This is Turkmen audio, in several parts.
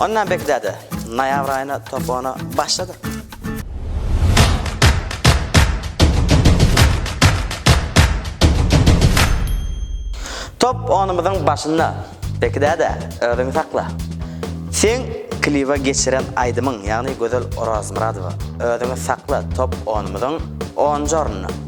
Ondan beklä-de, noýabr aýyna topana başladyk. Top onumyzyň başynda, beklä-de, özüňi sakla. Seň kliba geçiren aýdymyň, ýagny Gözel Orazmyradowa, Özüňi sakla top onumyzyň onunjy ornunda.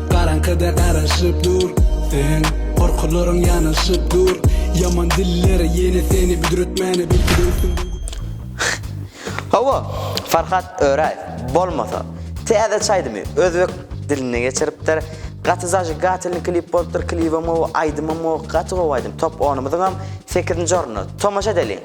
Garaňkyda garaşyp dur sen Gorkularyň ýanaşyp dur Ýaman diller ýene seni büdretmäne belki dönsün bu Hawa, Farhat Öräýew, bolmasa, täze çaýdymy özbek diline geçiripdir. Gaty zajigatelny klip bolupdyr, klibem gowy, aýdymam gowy, gaty gowy aýdym. Top onumyzyňam sekizinji ornuna. Tomaşa edeliň.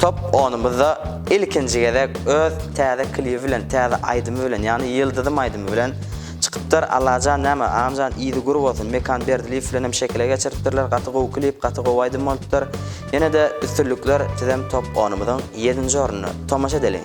Top onumyzda ilkinji gezek öz täze klibi bilen täze aýdymy bilen ýagny Ýyldyzym aýdymy bilen çykypdyr. Allajan näme agamjan yzy gür bolsun Mekan Berdilyýew bilenem şekile geçiripdirler gaty gowy klip gaty gowy aýdym bolupdyr ýenede üstünlikler sizem top onumyzyň ýedinji ornuny tomaşa edeliň.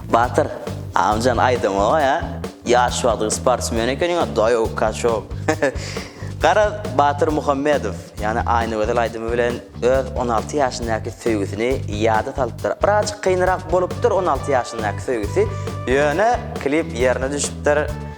Batyr amjan aýdamoga ýa ýaş wagtyň sportsmen ekeniň a daýow kaçow Garaz Batyr Muhammedow ýany Aýnagözel aýdymy bilen öz on alty ýaşyndaky söýgüsini ýada salypdyr birazjyk kynrak bolupdyr on alty ýaşyndaky söýgüsi ýöne klip ýerine düşüpdir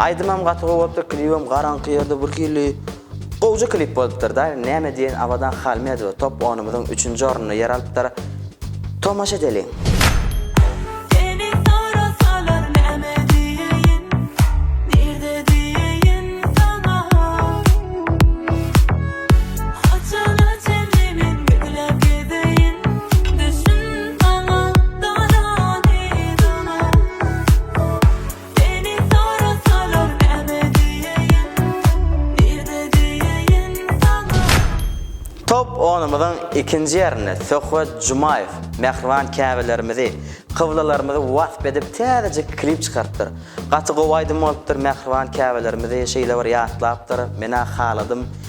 Aýdymam gaty gowy bolupdyr klibem garaňky ýerde birhili gowja klip bolupdyr da näme diýen Abadan Halmedow we top onumyzyň üçünji ornunda ýer alypdyr tomaşa edeliň. Seni sorasalar näme diýeýin Nirde diýeýin saňa Haçana çenli men gizläp gezeýin Düşün saňa dana nidana. Seni sorasalar näme diýeýin, nirde diýeýin saňa. Top onumyzyň ikinji ýerinde Söhbet Jumaýew mähriban Käbelerimizi, kyblalarymyzy wasp edip täzejik klip çykarypdyr. Gaty gowy aýdym bolupdyr, mähriban Käbelerimizi şeýle bir ýatlapdyr, men-ä haladym,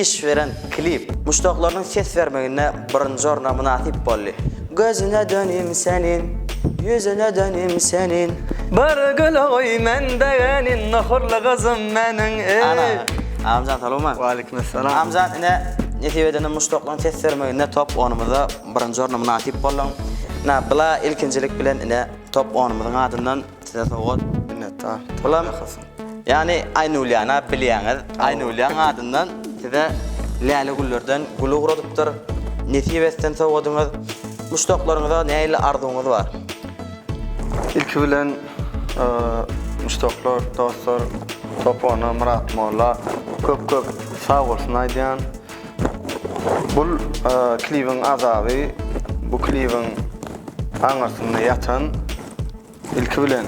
Iş beren klip muşdaklarynyň ses bermeginde birinji orna mynasyp boldy. Gözüne dönim seniň, ýüzüne dönim seniň. Bir gül goý men begenin, nohurly gyzym meniň eý. Ana, Agamjan salowma. Waleýkim essalam. Agamjan ine nesip edende muşdaklaryň ses bermeginde top onumyzda birinji orna mynasyp bolduň. Ina bla ilkinjilik bilen ine top onumyzyň adyndan. Size sowgat. Minnetdar. Bulam ýany Aýnulyana bilýäňiz. Aýnulyanyň adyndan size läle güllerden gül ugradypdyr. Nesip etsin sowgadyňyz. Muşdaklaryňyza nähili arzuwyňyz bar? Ilki bilen muşdaklar, dostlar Sopona, Myrat molla köp köp sag bolsun aýdýan. Bu klibiň azaby, bu klibiň aňyrsynda ýatan Ilki bilen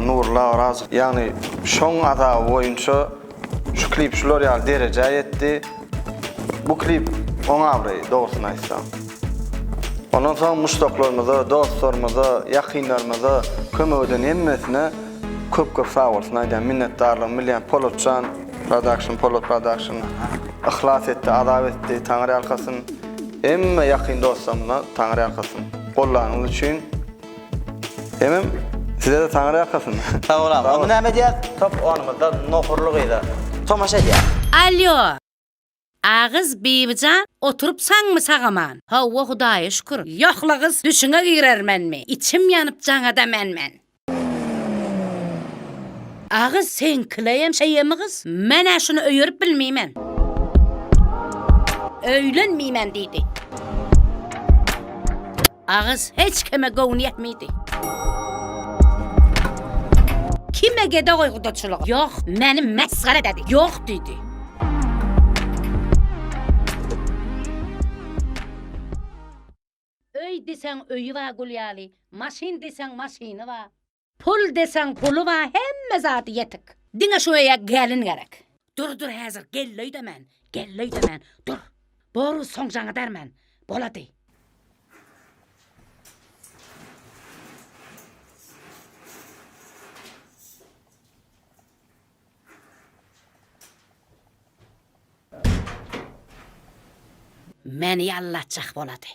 Nurly Orazow ýagny şoň azaby boýunça şu klip şular ýaly derejä ýetdi. Bu klip oň abraýy dogrusyny aýtsaň. Ondan soň muşdaklarymyza, dostlarymyza, ýakynlarymyza kömek eden hemmesine köp köp sag bolsun aýdýan, minnetdarlygymy bilýän Polatjan Production, Polat Production yhlas etdi, azap etdi, Taňyrýalkasyn. Hemme ýakyn dostlarymyza Taňyrýalkasyn. Gollanyňyz üçin. Emem sizede taňra ýakasyn. Sag bol agam. Onda näme edýäs? Top onumyzda nohurly gyza tomaşa edýäs. Alýo! Agyz Bibijan oturyp saňmy sagaman? Hawa Hudaýa şükür. Ýoh-la gyz düşüňe girermenmi? Içim ýanyp jaňada men-men. Agyz seňkileýem şeýemi gyz? Men-ä şuny öýerip bilmeýmen. Öýlenmeýmen diýdi. Agyz hiç kime göwni ýetmidi. Kim egede goý gudaçylygy? Ýok, meni mesgere ededi. Ýok diýdi. Öý diýseň öýi bar gül ýaly, maşyn diýseň maşyny bar. Pul deseň puly bar hemme zady ýetik. Diňe şu öýe gelin gerek. Dur dur häzir geldi öýdemän geldi öýdemän dur boru soň jaňa derman bolady. Meni ýallatjak bolady.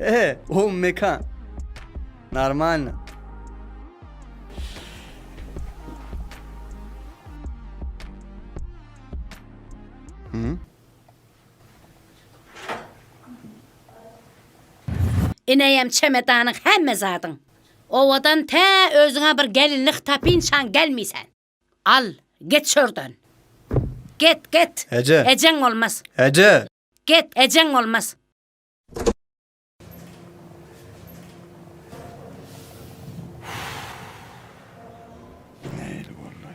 Eee, o mekan. Normalno. Hı? Ineýem çemedanyň hemme zadyň. Owadan tä özüňe bir gelinlik tapyn şan gelmisen. Al, get şordan. Get, get. Eje. Ejeň bolmaz. Eje. Get, ejeň bolmaz. Neil bolly.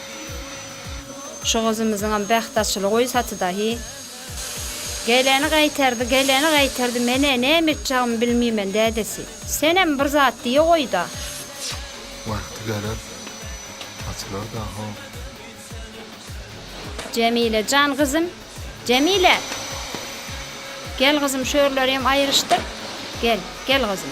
Şu gyzymyzyňam bähti açyly goý saty dahi. Geleni gaýtardy, geleni gaýtardy, menä näme etjagmy bilmimen dädesi. Senem bir zat diýe goýda. Wagty geler açylar daho. Jemile jan gyzym Jemile! Gel gyzym şörlerem aýryşdyr. Gel, gel gyzym.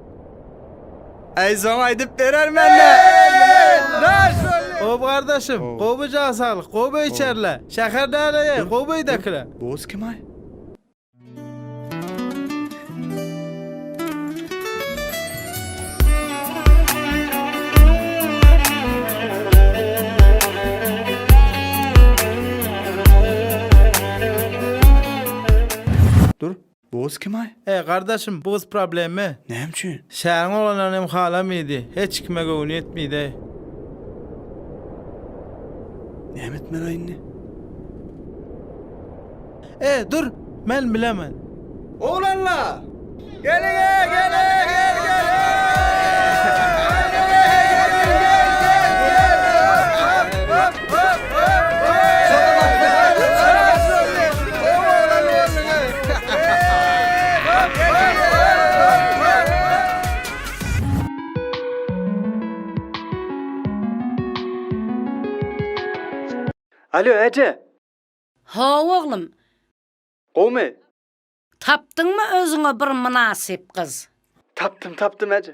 Aýzon aýdyp berer mende. Daş! Gowy gardaşym, gowy jan saglyk, gowy içerle. Şäher däleýe, gowy öýdäkile. Boz kim aý? Bu gyz kim-aý? He, gardaşym, bu gyz problema. Näme üçin? Şäheriň oglanlaryny hem halamaýdy, hiç kime göwni ýetmeýdi. Näme etmeli-aý indi? E, dur, men bilemen. Oglanlar! Geliň-ä, geliň, gel, geliň! Alo, äje! Haw, oglum. Gowmy? Tapdyňmy özüňe bir mynasyp gyz? Tapdym, tapdym, äje.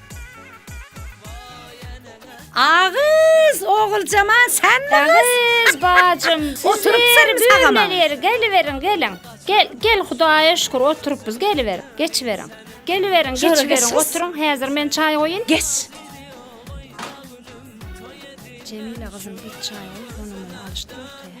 Agyz, Oguljaman senmi gyz? Agyz bajym, oturypsyň sagama. Geliberiň, geliň. Gel, gel Hudaýa şükür oturypyz, geliberiň, geçiberiň. Geliberiň, geçiberiň, oturyň, häzir men çaý goýun. Geç. Jemile gyzym, git çaý goý, gonamyny alyşdyr ortaýa.